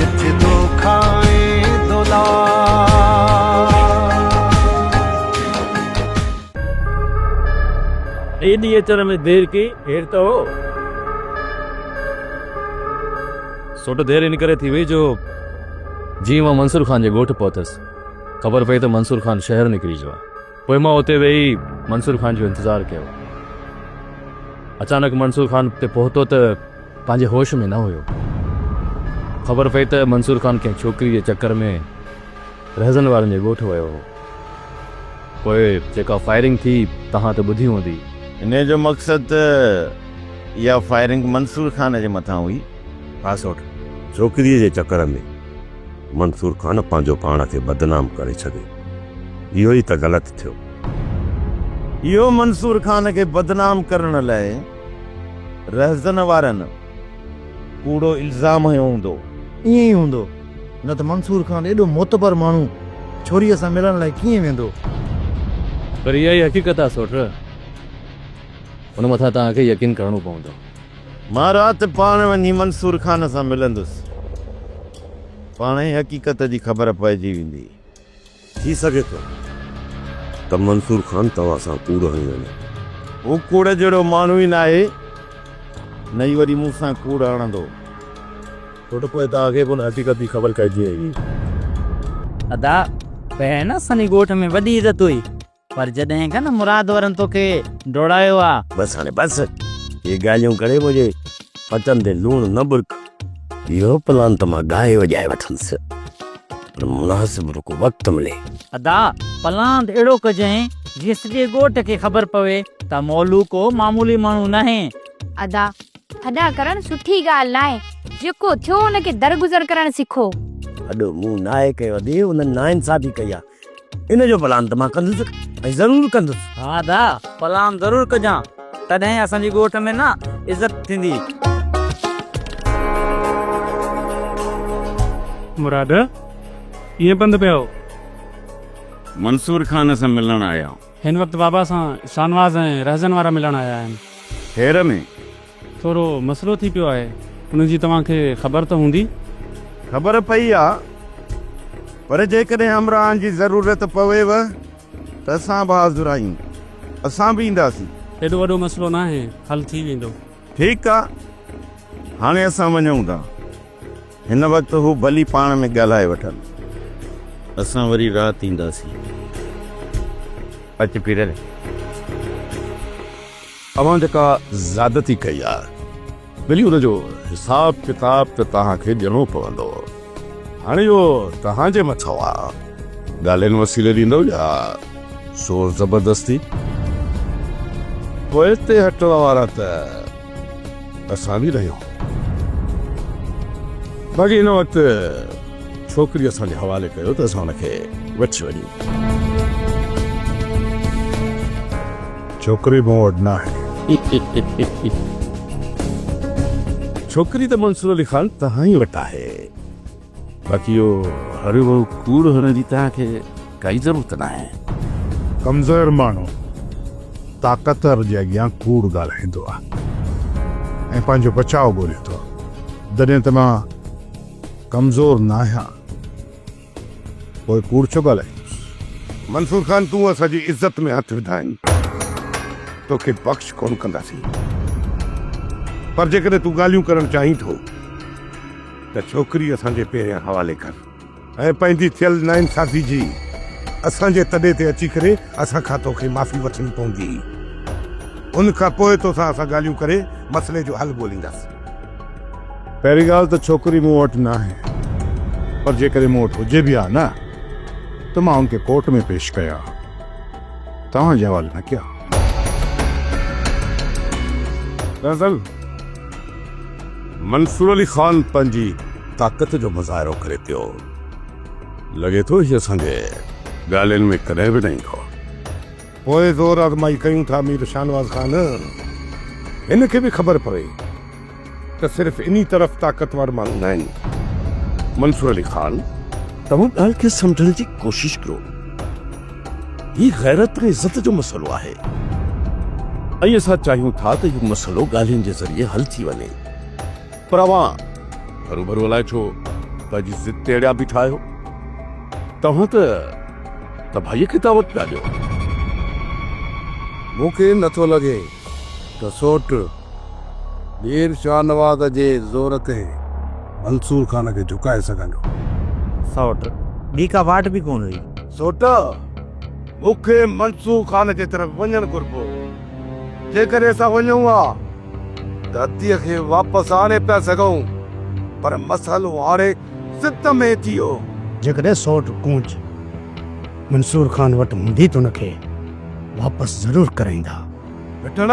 جت دوکا ۽ دولار. ايڏي اچڻ ۾ دير ڪي ڪير ته هو. سو ته دير ان ڪري ٿي وئي جو جيئن مان منصور خان جي ڳوٺ پهتس خبر پئي ته منصور خان شهر نڪري ويو آهي. پوء مان اتي ويهي منصور خان جو انتظار ڪيو. اچانڪ منصور خان اتي پهتو ته پنهنجي هوش ۾ نه هيو. خبر پئي ته منصور خان ڪنهن ڇوڪري جي چڪر ۾ رهزن وارن جي ڳوٺ ويو هو. پوء جيڪا فائرنگ ٿي توهان ته ٻڌي هوندي. انهيء جو مقصد ته اها فائرنگ منصور خان جي مٿان هئي. خاص هوٽ ڇوڪريء جي چڪر ۾. منصور خان پنهنجو پاڻ کي بدنام ڪري ڇڏي. اهو ئي ته غلط ٿيو. اهو منصور خان کي بدنام ڪرڻ لاء رهزن وارن ڪوڙو الزام هنيو هوندو. ائين ئي هوندو. نه ته منصور خان ايڏو معتبر ماڻهو ڇوريء سان ملڻ لاء ڪيئن ويندو؟ پر اها ئي حقيقت آهي سوٽ. ان مٿان توهان کي يقين ڪرڻو پوندو. مان رات پاڻ وڃي منصور خان سان ملندس. پاڻ ئي حقيقت جي خبر پئجي ويندي. ٿي سگهي ٿو ته منصور خان توهان سان ڪوڙ هڻي وڃي. هو ڪوڙ جهڙو ماڻهو ئي ناهي، نه ئي وري مون سان ڪوڙ هڻندو. ڇو ته پوء توهان کي به ان حقيقت جي خبر پئجي ويندي. ادا پهرين نه اسان جي ڳوٺ ۾ وڏي عزت هئي. پر جڏهن کان نه مراد ورن توکي ڊوڙايو آ. بس هاڻي بس اهي ڳالهيون ڪري منهنجي پتن تي لوڻ نه ٻرڪ. اهو پلان ته مان ڳائي وڄائي وٺندس پر مناسب رڳو وقت ملي. ادا پلاند اهڙو ڪجين جيئن سڄي ڳوٺ کي خبر پوي ته مولو ڪو معمولي ماڻهو ناهي. ادا ٿڏا ڪرڻ سٺي ڳالهه ناهي جيڪو ٿيو ان کي درگذر ڪرڻ سکو. ٿڏو مون ناهي ڪيو ادي انهن ناانصافي ڪئي آ. ان جو پلان ته مان ڪندس ۽ ضرور ڪندس. ها ادا، پلان ضرور ڪجان، تڏهن اسان جي ڳوٺ ۾ نه عزت ٿيندي. مراد، ائين پنڌ پيا هو؟ منصور خان سان ملڻ آيا آهيون. هن وقت بابا سان شاهنواز ۽ رهزن وارا ملڻ آيا آهن. هير ۾. ٿورو مسئلو ٿي پيو آهي ان جي توهان کي خبر ته هوندي؟ خبر پئي آ پر جيڪڏهن همراهن جي ضرورت پويو ته اسان به حاضر آهيون اسان به اينداسين. ايڏو وڏو مسئلو ناهي حل ٿي ويندو. ٺيڪ آ هاڻي اسان وڃون ٿا. هن وقت هو ڀلي پاڻ ۾ ڳالهائي وٺن. اسان وري رات اينداسين. اچ پيرل. اوهان جيڪا زيادتي ڪئي آ ڀلي ان جو حساب ڪتاب ته توهان کي ڏيڻو پوندو هاڻي اهو توهان جي مٿو آ ڳالهين وسيلي ڏيندو يا زور زبردستي. پوء اتي هٽ وارا ته. اسان به رهيو باقي هن وقت ڇوڪري اسان جي حوالي ڪيو ته اسان هن کي وٺي وڃون. ڇوڪري مون وٽ ناهي. ڇوڪري ته منصور علي خان توهان ئي وٽ آهي. باقي اهو هريوڀرو ڪوڙ هڻڻ جي توهان کي ڪائي ضرورت ناهي. ڪمزور ماڻهو طاقتور جي اڳيان ڪوڙ ڳالهائيندو آهي ۽ پنهنجو بچاء ڳولهي ٿو جڏهن ته مان ڪمزور ناهيان پوء ڪوڙ ڇو ڳالهائيندس. منصور خان تون اسان جي عزت ۾ هٿ وڌا آهن توکي بخش ڪونه ڪنداسين پر جيڪڏهن تون ڳالهيون ڪرڻ چاهين ٿو. ته ڇوڪري اسان جي پهريان حوالي ڪر ۽ پنهنجي ٿيل ناانصافي جي اسان جي تڏي تي اچي ڪري اسان کان توکي معافي وٺڻي پوندي. ان کان پوء توسان اسان ڳالهيون ڪري مسئلي جو حل ڳولينداسين. پهرين ڳالهه ته ڇوڪري مون وٽ ناهي پر جيڪڏهن مون وٽ هجي به ها نه ته مان ان کي ڪورٽ ۾ پيش ڪيا ها توهان جي حوالي نه ڪيا ها. دراصل. منصور علي خان پنهنجي طاقت جو مظاهرو ڪري پيو. لڳي ٿو هي اسان جي ڳالهين ۾ ڪڏهن به نه ايندو. پوء زور آزمائي ڪيون ٿا مير شاهنواز خان. هن کي به خبر پوي ته صرف انهي طرف طاقتور ماڻهو ناهن. منصور علي خان توهان ڳالهه کي سمجهڻ جي ڪوشش ڪرو. هي غيرت ۽ عزت جو مسئلو آهي ۽ اسان چاهيون ٿا ته اهو مسئلو ڳالهين جي ذريعي حل ٿي وڃي پر اوهان هروڀرو الائي ڇو پنهنجي ضد تي اڙيا بيٺا آهيو. توهان ته تباهيء کي دعوت پيا ڏيو. مون کي نٿو لڳي ته سوٽ مير شاهنواز جي زور تي منصور خان کي جهڪائي سگهندو. سوٽ ٻي ڪا واٽ به ڪونه هئي. سوٽا، مون کي منصور خان جي طرف وڃڻ گهربو. جيڪڏهن اسان وڃون ها ته هتيء کي واپس آڻي پيا سگهون، پر مسئلو هاڻي ضد ۾ ٿي ويو. جيڪڏهن سوٽ ڪونج منصور خان وٽ هوندي ته ان کي واپس ضرور ڪرائيندا. بٺڻ،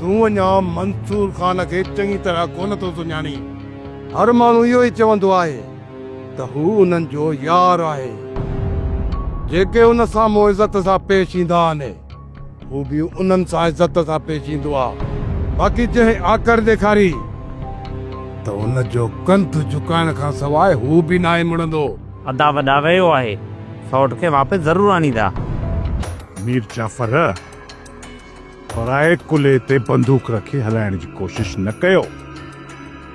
تون اڃا منصور خان کي چڱي طرح ڪونه ٿو سڃاڻين. هر ماڻهو اهو ئي چوندو آهي. ته هو انهن جو يار آهي، جيڪي ان سان مون عزت سان پيش ايندا آهن، هو به انهن سان عزت سان پيش ايندو آ، باقي جنهن آڪڙ ڏيکاري ته ان جو ڪنڌ جهڪائڻ کان سواء هو به ناهي مڙندو. ادا وڏا ويو آهي، سئوٽ کي واپس ضرور آڻيندا. مير جعفر، پرائي ڪلهي تي بندوق رکي هلائڻ جي ڪوشش نه ڪيو،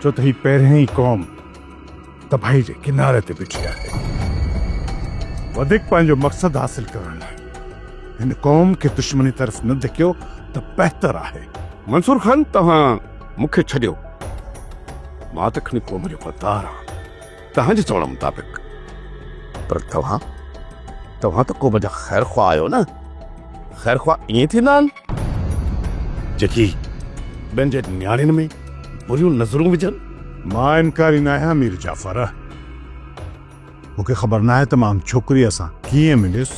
ڇو ته هي پهريائين قوم تباهي جي ڪناري تي بيٺي آهي. وڌيڪ پنهنجو مقصد حاصل ڪرڻ لاء هن قوم کي دشمني طرف نه ڌڪيو ته بهتر آهي. منصور خان توهان مون کي ڇڏيو، مان ته کڻي قوم جو غدار آهيان توهان جي چوڻ مطابق. پر توهان، توهان ته قوم جا خيرخواهه آهيو نه؟ خير خواهه ائين ٿيندا آهن جيڪي ٻين جي نياڻين ۾ بريون نظرون وجهن. مان انڪاري ناهيان مير جعفر. مون کي خبر ناهي ته مان ان ڇوڪريء سان ڪيئن مليس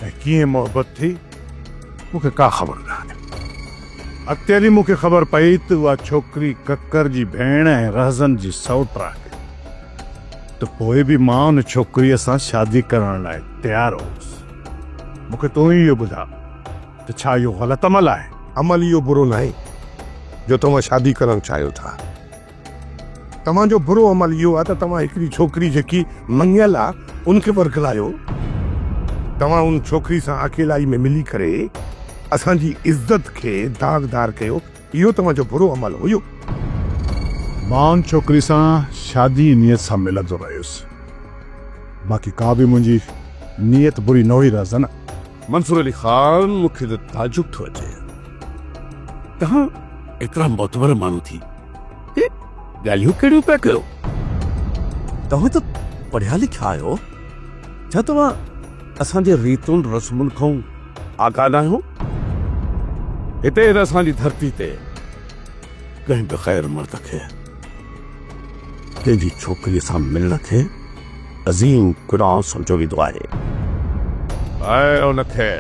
۽ ڪيئن محبت ٿي، مون کي ڪا خبر ناهي. اڳتي هلي مون کي خبر پئي ته اها ڇوڪري ڪڪر جي ڀيڻ ۽ رهزن جي سئوٽ آهي ته پوء به مان ان ڇوڪريء سان شادي ڪرڻ لاء تيار هوس. مون کي تون ئي اهو ٻڌاء ته ڇا اهو غلط عمل آهي؟ عمل اهو برو ناهي جو توهان شادي ڪرڻ چاهيو ٿا. توهان جو برو عمل اهو آهي ته توهان هڪڙي ڇوڪري جيڪي مڱيل آهي ان کي ورغلايو. توهان ان ڇوڪري سان اڪيلائي ۾ ملي ڪري اسان جي عزت کي داغدار ڪيو. اهو توهان جو برو عمل هيو. مان ان ڇوڪري سان شادي جي نيت سان ملندو رهيس. باقي ڪا به منهنجي نيت بري نه هئي رهزن. منصور علي خان مون کي ته تعجب ٿو اچي. توهان ايترا معتبر ماڻهو ٿي هي ڳالهيون ڪهڙيون پيا ڪيو. توهان ته پڙهيا لکيا آهيو. ڇا توهان اسان جي ريتن رسمن کان آگاهه ناهيون، هتي هن اسان جي ڌرتي تي ڪنهن به غير مرد کي تنهنجي ڇوڪريء سان ملڻ کي عظيم گناهه سمجهيو ويندو آهي ۽ ان کي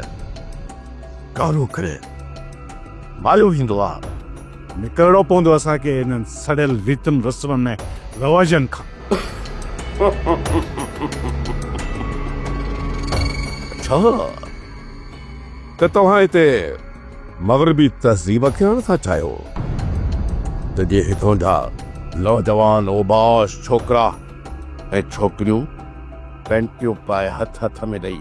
ڪارو ڪري مايو ويندو آهي. نڪرڻو پوندو اسان کي انهن سڙيل ريتن رسمن ۽ رواجن کان. اڇا ته توهان هتي مغربي تهذيب کي آڻڻ ٿا چاهيو ته جي هتون جا نوجوان اوباش ڇوڪرا ۽ ڇوڪريون پينٽيون پائي هٿ هٿ ۾ ڏئي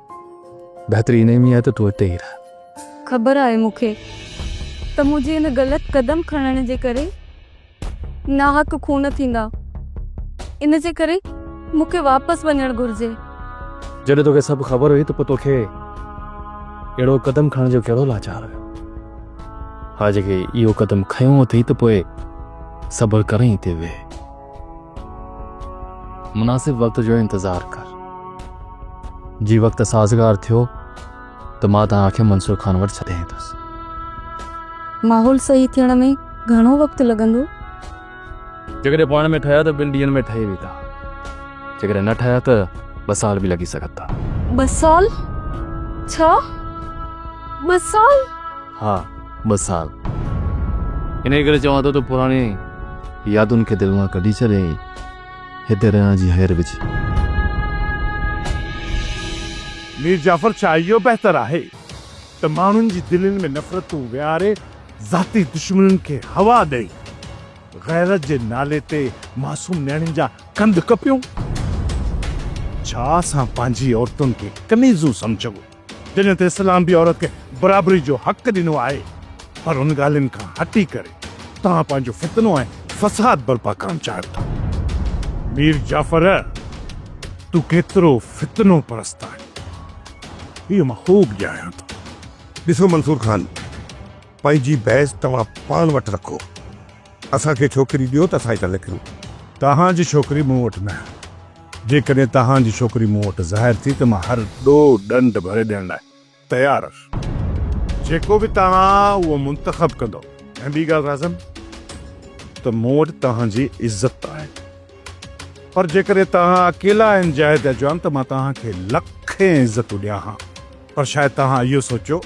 بهتري انهي ۾ آهي ته تون اتي ئي رهه. خبر آهي مون کي ته منهنجي ان غلط قدم کڻڻ جي ڪري ناحق خون ٿيندا ان جي ڪري مون کي واپس وڃڻ گهرجي. جڏهن توکي سڀ خبر هئي ته پوء توکي اهڙو قدم کڻڻ جو ڪهڙو لاچار هيو. هاڻ جيڪي اهو قدم کنيو اٿئي ته پوء صبر ڪرين اتي ويهه. مناسب وقت جو انتظار ڪر جي وقت سازگار ٿيو ته مان توهان کي منصور خان وٽ ڇڏي ايندس ماحول صحيح ٿيڻ ۾ گهڻو وقت لڳندو جيڪڏهن پاڻ ۾ ٺهيا ته ٻن ڏينهن ۾ ٺهي ويندا جيڪڏهن نه ٺهيا ته ٻه سال به لڳي سگهن ٿا ٻه سال ڇا ٻه سال ها، ٻه سال. انهيء ڪري چوان ٿو ته پراڻين يادن کي دل مان ڪڍي ڇڏ ۽ هتي رهڻ جي هير وجهه. مير جعفر ڇا اهو بهتر آهي ته ماڻهن جي دلين ۾ نفرتون ويهاري ذاتي دشمنين کي هوا ڏئي غيرت جي نالي تي معصوم نياڻين جا ڪنڌ ڪپيون؟ ڇا اسان پنهنجي عورتن کي ڪنيزون سمجهون؟ جنھن تي اسلام به عورت کي برابري جو حق ڏنو آھي پر ان ڳالھين کان ھٽي ڪري توھان پنھنجو فتنو ۽ فساد برپا ڪرڻ چاھيو ٿا. مير جعفر تون ڪيترو فتنو پرست آھين اھو مان خوب ڄاڻيان ٿو. ڏسو منصور خان پنھنجي بحث توھان پاڻ وٽ رکو. اسان کي ڇوڪري ڏيو ته اسان هي ٿا لکيون. توهان جي ڇوڪري مون وٽ ناهي. جيڪڏهن توهان جي ڇوڪري مون وٽ ظاهر ٿي ته مان هر ڏو ڏنڊ ڀري ڏيڻ لاء تيار هئس. جيڪو به توهان اهو منتخب ڪندو ۽ ٻي ڳالهه راضم ته مون وٽ توهان جي عزت ته آهي پر جيڪڏهن توهان اڪيلا انجاهه ٿيا چوان ته مان توهان کي لکين عزتون ڏيان ها. پر شايد توهان اهو سوچيو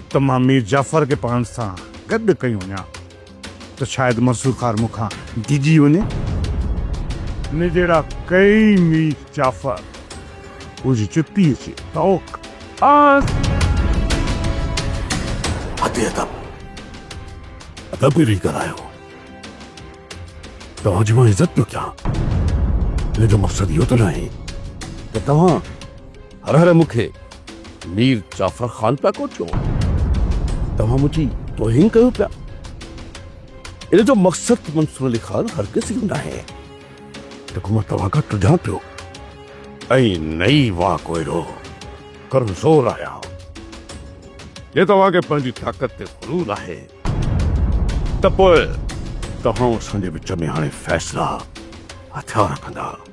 ته مان مير جعفر کي پاڻ سان گڏ ڪيون وڃان ته شايد منصور خان مون کان ڊڄي وڃي. نجيرا ڪئي مير جعفر منهنجي جتيء جي طوق آس. ادي ادب ادب ۾ ويهي ڳالهايو. توهان جي مان عزت پيو ڪيان. منهنجو مقصد اهو ته ناهي ته توهان. هر هر مون کي مير جعفر خان پيا ڪوٺيو. توهان منهنجي توهين ڪيو پيا. ان جو مقصد منصور علي خان هرگز اهو ناهي جيڪو مان توهان کان ٽڙيان پيو. ۽ نه ئي مان ڪو اهڙو ڪمزور آهيان. جي توهان کي پنهنجي طاقت تي غرور آهي ته پوء توهان اسان جي وچ ۾ هاڻي فيصلا هٿيار ڪندا.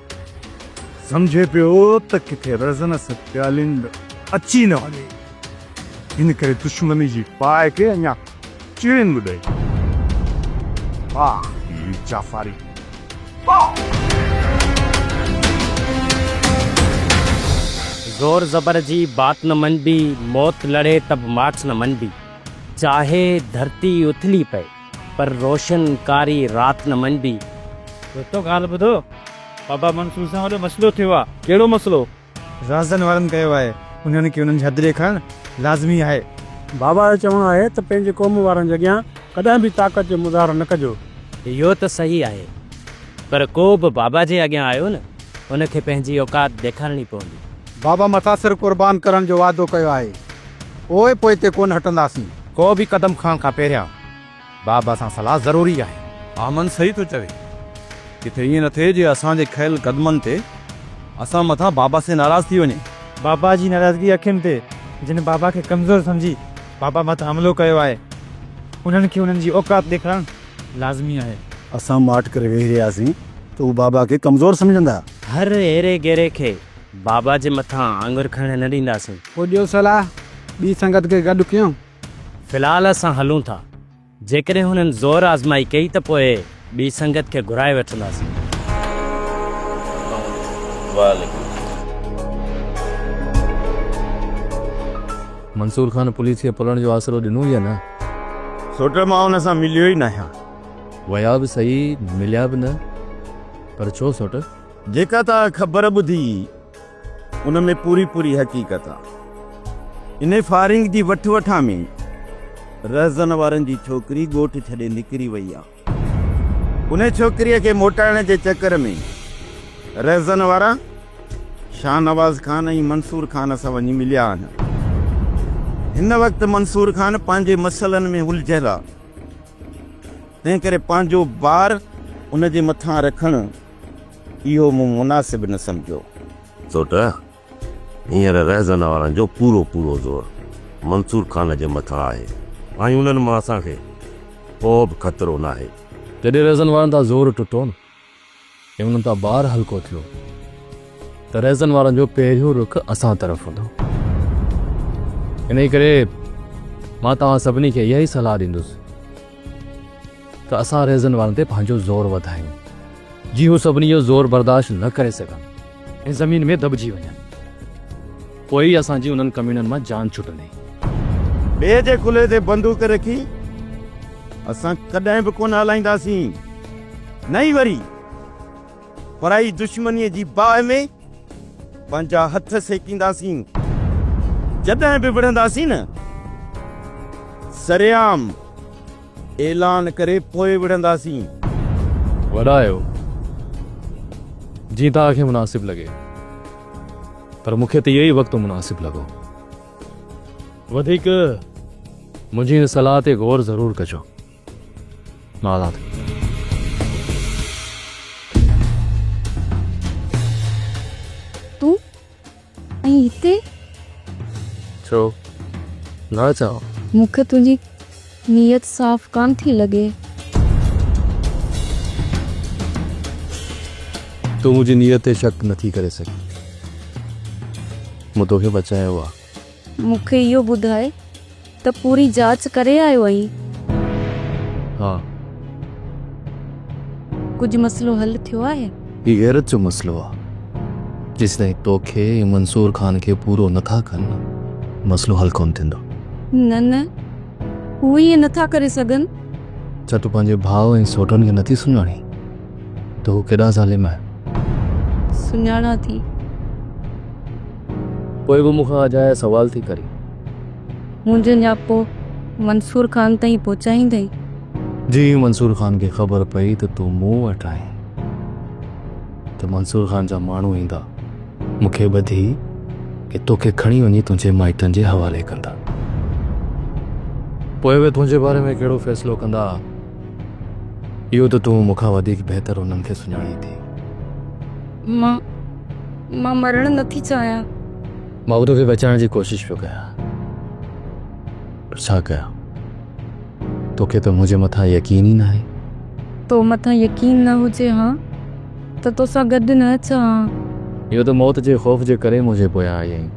سمجهي پيو ته ڪٿي رزنس پيالينڊ اچي نه وڃي، ان ڪري دشمني جي باهه کي اڃا چيڙين به ڏئي. واهه مير جعفري واهه! زور زبر جي بات نه مڃبي، موت لڙهي ته به مات نه مڃبي، چاهي ڌرتي اٿلي پئي. پر روشن ڪاري رات نه مڃبي. دوستو ڳالهه ٻڌو بابا منصور سان وڏو مسئلو ٿيو آ. ڪهڙو مسئلو؟ رازدن وارن ڪيو آهي انهن کي انهن جي حد ڏيکارڻ لازمي آهي. بابا جو چوڻ آهي ته پنهنجي قوم وارن جي اڳيان ڪڏهن به طاقت جو مظاهرو نه ڪجو. اهو ته صحيح آهي پر ڪو به بابا جي اڳيان آيو نه ان کي پنهنجي اوقات ڏيکارڻي پوندي. بابا متاثر قربان ڪرڻ جو وعدو ڪيو آهي. پوء پوئتي ڪونه هٽنداسين. ڪو به قدم کڻڻ کان پهريان بابا سان صلاح ضروري آهي. احمد صحيح ٿو چوي. ڪٿي ائين نه ٿئي جي اسان جي کنيل قدمن تي اسان مٿان بابا سين ناراض ٿي وڃي. بابا جي ناراضگي اکين تي جن بابا کي ڪمزور سمجهي بابا مٿان حملو ڪيو آهي انهن کي انهن جي اوقات ڏيکارڻ لازمي آهي. اسان ماٺ ڪري ويهي رهياسين ته هو بابا کي ڪمزور سمجهندا. هر هيري گيري کي بابا جي مٿان آڱر کڻڻ نه ڏينداسين. پوء ڏيو صلاح، ٻي سنگت کي گڏ ڪيون. في الحال اسان هلون ٿا. جيڪڏهن هنن زور آزمائي ڪئي ته پوء ٻي سنگت کي گهرائي وٺنداسين. منصور خان پوليس کي پلڻ جو آسرو ڏنو ئي نه. سوٽر مان هن سان مليو ئي ناهيان. ويا به صحيح، مليا به نه. پر ڇو سوٽر؟ جيڪا توهان خبر ٻڌي ان ۾ پوري پوري حقيقت آ. انهي فائرنگ جي وٺ وٺان ۾ رهزن وارن جي ڇوڪري ڳوٺ ڇڏي نڪري وئي آ. انهي ڇوڪري کي موٽائڻ جي چڪر ۾ رهزن وارا شاهنواز خان ۽ منصور خان سان وڃي مليا آهن. هن وقت منصور خان پنهنجي مسئلن ۾ الجهيل آ. تنهن ڪري پنهنجو بار ان جي مٿان رکڻ اهو مون مناسب نه سمجهيو. ڇو ته هينئر رهزن وارن جو پورو پورو زور منصور خان جي مٿان آهي ۽ انهن مان اسان کي ڪو به خطرو ناهي. جڏهن رهزن وارن تان زور ٽٽو نه ۽ انهن تان بار هلڪو ٿيو ته رهزن وارن جو پهريون رخ اسان طرف هوندو. انهيء ڪري مان توهان سڀني کي اها ئي صلاح ڏيندس. ته اسان ريزن وارن تي پنهنجو زور وڌايون، جي هو سڀني جو زور برداشت نه ڪري سگهن ۽ زمين ۾ دٻجي وڃن. پوء ئي اسان جي انهن ڪميڻن مان جان ڇٽندي. ٻئي جي ڪلهي تي بندوق رکي اسان ڪڏهن به ڪونه هلائينداسين، نه ئي وري پرائي دشمنيء جي باهه ۾ پنهنجا هٿ سيڪينداسين. جڏهن به وڙهنداسين نه سرعام. اعلان ڪري پوء وڙهنداسين. وڏا آهيو جيئن توهان کي مناسب لڳي پر مون کي ته اهو ئي وقت مناسب لڳو. وڌيڪ منهنجي هن صلاح تي غور ضرور ڪجو. مان هلان ٿو. تون ۽ هتي؟ ڇو نه اچان؟ مون کي تنهنجي نيت صاف ڪانه ٿي لڳي. تون منهنجي نيت تي شڪ نه ٿي ڪري سگهين. مون توکي بچايو آهي. مون کي اهو ٻڌاء ته پوري جاچ ڪري آيو آهين؟ ها. ڪجهه مسئلو حل ٿيو آهي؟ هي غيرت جو مسئلو آ. جيسيتائين توکي ۽ منصور خان کي پورو نه ٿا ڪن مسئلو حل ڪونه ٿيندو. نه نه هو ائين نه ٿا ڪري سگهن. ڇا تون پنهنجي ڀاء ۽ سوٽن کي نٿي سڃاڻين ته هو ڪيڏا ظالم آهن؟ سڃاڻان ٿي. پوء به مون کان اجايا سوال ٿي ڪرين. منهنجو نياپو منصور خان تائين پهچائيندين؟ جي منصور خان کي خبر پئي ته تون مون وٽ آهين ته منصور خان جا ماڻهو ايندا، مون کي ٻڌي ڪي توکي کڻي وڃي تنهنجي مائٽن جي حوالي ڪندا. پوء اهي تنهنجي باري ۾ ڪهڙو فيصلو ڪندا، اهو ته تون مون کان وڌيڪ بهتر انهن کي سڃاڻين ٿي. مان مان مرڻ نه ٿي چاهيان. مان به توکي بچائڻ جي ڪوشش پيو ڪيان پر ڇا ڪيان. توکي ته منهنجي مٿان يقين ئي ناهي. تو مٿان يقين نه هجي ها ته توسان گڏ نه اچان ها. اهو ته موت جي خوف جي ڪري منهنجي پويان آئي آهين.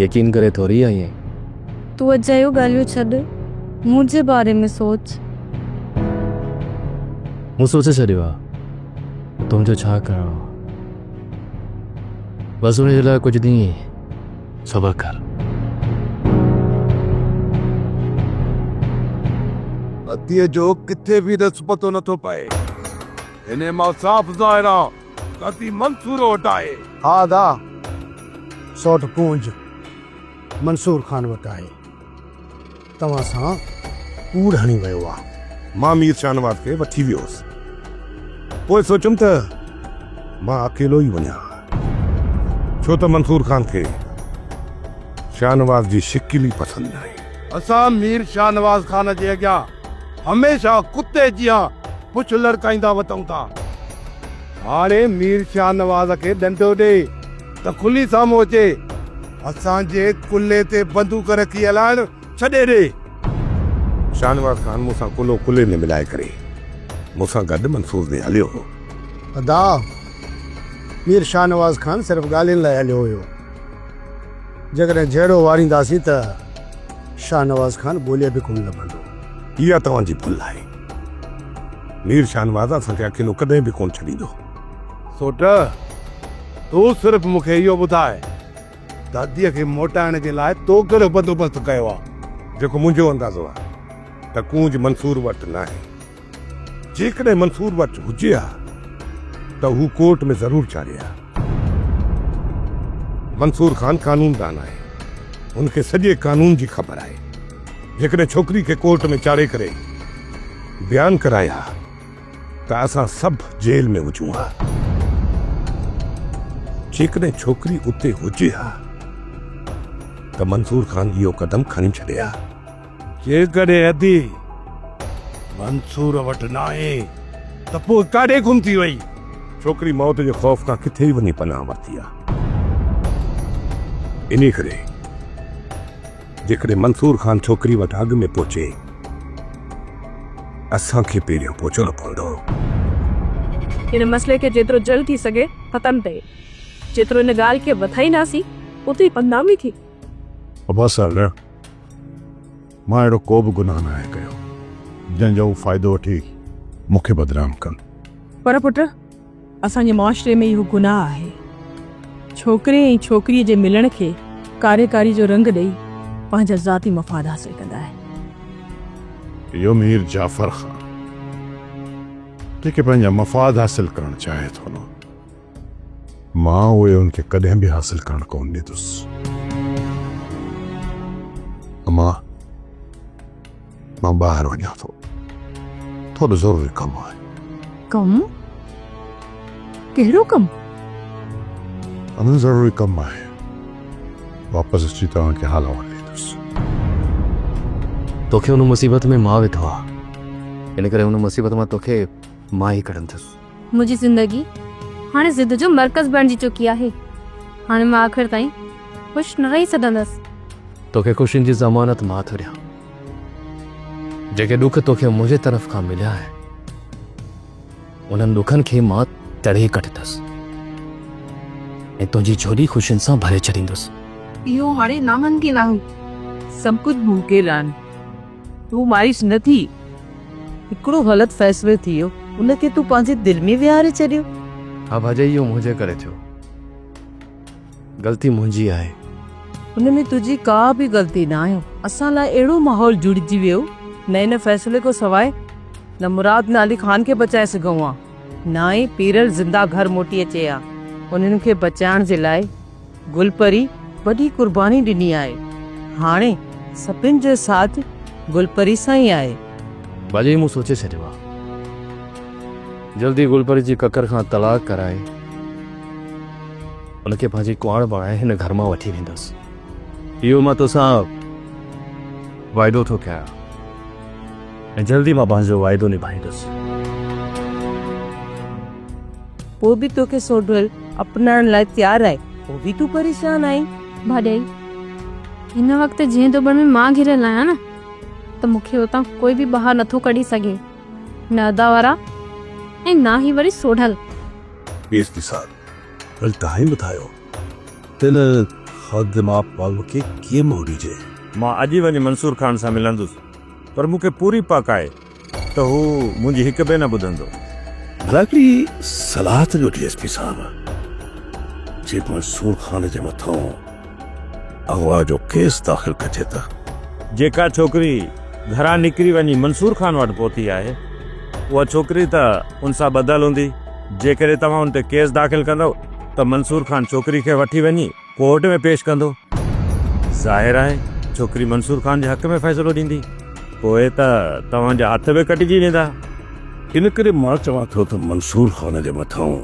يقين ڪري ٿوري آئي آهين. تون اجايون ڳالهيون ڇڏ منهنجي باري ۾ سوچ. مون سوچي ڇڏيو آهي. تنهنجو ڇا ڪرڻو بس ان جي لاء ڪجهه ڏينهن صبر ڪر پتي جو ڪٿي به رس پتو نٿو پئي هن مان صاف ظاهر آ پتي منصور وٽ آهي ها دا سوٽ پونج منصور خان وٽ آهي توهان سان ڪوڙ هڻي ويو آ. مان مير شاهنواز کي وٺي ويو هوس. پوء سوچيم ته مان اڪيلو ئي وڃان ها. ڇو ته منصور خان کي شاهنواز جي شڪل ئي پسند ناهي. اسان مير شاهنواز خان جي اڳيان هميشه ڪتي جيان پڇ لڙڪائيندا وتئون ٿا. هاڻي مير شاهنواز کي ڏنڊو ڏي. ته کلي سامهون اچي اسان جي ڪلهي تي بندوق رکي هلائڻ ڇڏي ڏي. شاهنواز خان مون سان ڪلهو ڪلهي ۾ ملائي ڪري مون سان گڏ منصور ڏي هليو هو. ادا، مير شاهنواز خان صرف ڳالهين لاء هليو هيو. جيڪڏهن جهيڙو وارينداسين ته شاهنواز خان ڳولي به ڪونه لڀندو. اها توهان جي ڀل آهي. مير شاهنواز اسان کي اڪيلو ڪڏهن به ڪونه ڇڏيندو. سوٽ، تون صرف مون کي اهو ٻڌاء، داديء کي موٽائڻ جي لاء تو ڪهڙو بندوبست ڪيو آهي؟ جيڪو منهنجو اندازو آهي ته ڪونج منصور وٽ ناهي. جيڪڏهن منصور وٽ هجي ها ته هو ڪورٽ ۾ ضرور چاڙهي ها. منصور خان قانوندان آهي. هن کي سڄي قانون جي خبر آهي. جيڪڏهن ڇوڪري کي ڪورٽ ۾ چاڙهي ڪري بيان ڪرائي ها. ته اسان سڀ جيل ۾ هجون ها. جيڪڏهن ڇوڪري اتي هجي ها ته منصور خان اهو قدم کڻي ڇڏي ها. جيڪڏهن ادي منصور وٽ ناهي ته پوء ڪاڏي گم ٿي وئي؟ ڇوڪري موت جي خوف کان ڪٿي ئي وڃي پناهه ورتي آهي. انهي ڪري. جيڪڏهن منصور خان ڇوڪري وٽ اڳ ۾ پهچي، اسان کي پهريان پهچڻو پوندو. هن مسئلي کي جيترو جلد ٿي سگهي ختم ڪيو. جيترو ان ڳالهه کي وڌائينداسين، اوتري بدنامي ٿيندي. عباس صاحب نه، مان اهڙو ڪو به گناهه ناهي ڪيو، جنهن جو هو فائدو وٺي مون کي بدنام ڪن. پر پٽ! اسان جي معاشري ۾ اهو گناهه آهي. ڇوڪري ۽ ڇوڪريء جي ملڻ کي ڪاري ڪاري جو رنگ ڏئي پنهنجا ذاتي مفاد حاصل ڪندا آهن. اهو مير جعفر خان جيڪي پنهنجا مفاد حاصل ڪرڻ چاهي ٿو نه مان اهي ان کي ڪڏهن به حاصل ڪرڻ ڪونه ڏيندس. امان! مان ٻاهر وڃان ٿو ٿورو ضروري ڪم آهي ڪم ڪهڙو ڪم انا ضروري ڪم آهي واپس اچي توهان کي حال احوال ڏيندس توکي ان مصيبت ۾ مان وڌو آهي ان ڪري ان مصيبت مان توکي مان ئي ڪڍندس منهنجي زندگي هاڻي ضد جو مرڪز بڻجي چڪي آهي. هاڻي مان آخر تائين خوش نه رهي سگهندس. توکي خوشين جي ضمانت مان ٿو ڏيان. جيڪي ڏک توکي منهنجي طرف کان مليا آهن، انهن ڏکن کي مان تڙي ڪڍندس ۽ تنهنجي جهولي خوشين سان ڀري ڇڏيندس. اهو هاڻي ناممڪن آهي. سڀ ڪجهه ممڪن آهي. تون مايوس نه ٿي، هڪڙو غلط فيصلو ٿي ويو، ان کي تون پنهنجي دل ۾ ويهاري ڇڏيو. ها ڀاڄائي اهو منهنجي ڪري ٿيو، غلطي منهنجي آهي. ان ۾ تنهنجي ڪا به غلطي ناهي، اسان لاء اهڙو ماحول جڙجي ويو، نه ان فيصلي کان سواء نه مراد نه علي خان کي بچائي سگهون ها، نه ئي پيرل زنده گهر موٽي اچي ها. انهن کي بچائڻ جي لاء گل پري وڏي قرباني ڏني آهي هاڻي سڀن جو ساٿ گل پري سان ئي آهي. ڀلي مون سوچي ڇڏيو آهي جلدي گل پري جي ڪڪر کان طلاق ڪرائي ان کي پنهنجي ڪنواڻ بڻائي هن گهر مان وٺي ويندس اهو مان توسان وعدو ٿو ڪيان ۽ جلدي مان پنهنجو وعدو نڀائيندس. پوء به توکي سوڍول اپنائڻ لاء تيار آهي، پوء به تون پريشان آهين. ڀاڄائي، هن وقت جنهن دٻڻ ۾ مان گهيريل آهيان نه ته مون کي اتان ڪوئي به ٻاهر نٿو ڪڍي سگهي، نه ادا وارا ۽ نه هي وري سوڍل. پي ايس پي صاحب، ڀل توهين ٻڌايو ته ان خادماپ ماڳ کي ڪيئن موڙيجي؟ مان اڄ ئي وڃي منصور خان سان ملندس، پر مون کي پوري پڪ آهي. ته هو منهنجي هڪ به نه ٻڌندو. ڀلا هڪڙي صلاح ته ڏيو ڊي ايس پي صاحب، جي منصور خان جي مٿان اغوا جو ڪيس داخل ڪجي ته. جيڪا ڇوڪري گهران نڪري وڃي منصور خان وٽ پهتي آهي، اها ڇوڪري ته ان سان ٻڌل هوندي، جيڪڏهن توهان ان تي ڪيس داخل ڪندؤ ته منصور خان ڇوڪري کي وٺي وڃي، ڪورٽ ۾ پيش ڪندو. ظاهر آهي ڇوڪري منصور خان جي حق ۾ فيصلو ڏيندي. پوء ته توهان جا هٿ به ڪٽجي ويندا. ان ڪري مان چوان ٿو ته منصور خان جي مٿان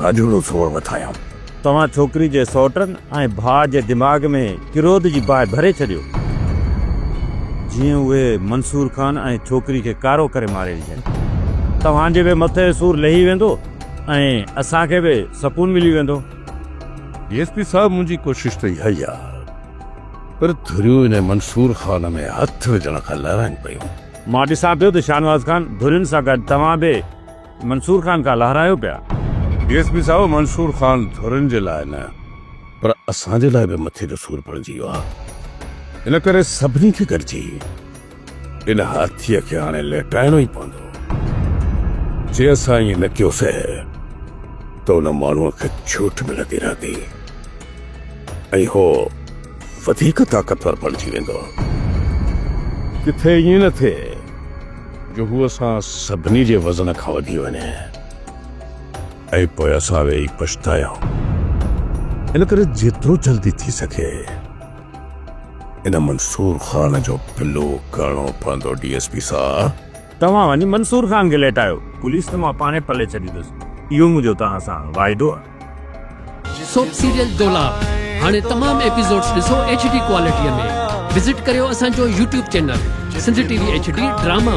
راڄوڙو زور وڌايان. توهان ڇوڪري جي سئوٽن ۽ ڀاء جي دماغ ۾ ڪروڌ جي باهه ڀري ڇڏيو. جيئن اهي منصور خان ۽ ڇوڪري کي ڪارو ڪري ماري وجهن. توهان جي به مٿي سور لهي ويندو ۽ اسان کي به سڪون ملي ويندو. ڊي ايس پي صاحب منهنجي ڪوشش ته اها ئي آ پر ڌريون انهي منصور خان ۾ هٿ وجهڻ کان لارائين پيون. مان ڏسان پيو ته شاهنواز خان ڌرين سان گڏ توهان به منصور خان کان لارائيو پيا. ڊي ايس پي صاحب منصور خان ڌرين جي لاء نه پر اسان جي لاء به مٿي جو سور بڻجي ويو آ ان ڪري سڀني کي گڏجي ان هاٿيء کي هاڻي ليٽائڻو ئي پوندو. جي اسان ائين نه ڪيوسين ته ان ماڻهوء کي ڇوٽ ملندي رهندي ۽ هو وڌيڪ طاقتور بڻجي ويندو. ڪٿي ائين نه ٿئي جو هو اسان سڀني جي وزن کان وڌي وڃي ۽ پوء اسان ويهي پڇتايون. ان ڪري جيترو جلدي ٿي سگهي. ان منصور خان جو پلو ڪرڻو پوندو ڊي ايس پي صاحب. توهان وڃي منصور خان کي ليٽايو. پوليس ته مان پاڻهي پلي ڇڏيندس اهو منهنجو توهان سان واعدو آهي. سوپ سيريل دولاب هاڻي تمام ايپيسوڊس ڏسو ايڇ ڊي ڪوالٽي ۾ وزٽ ڪريو اسان جو YouTube channel Sindh T V H D drama.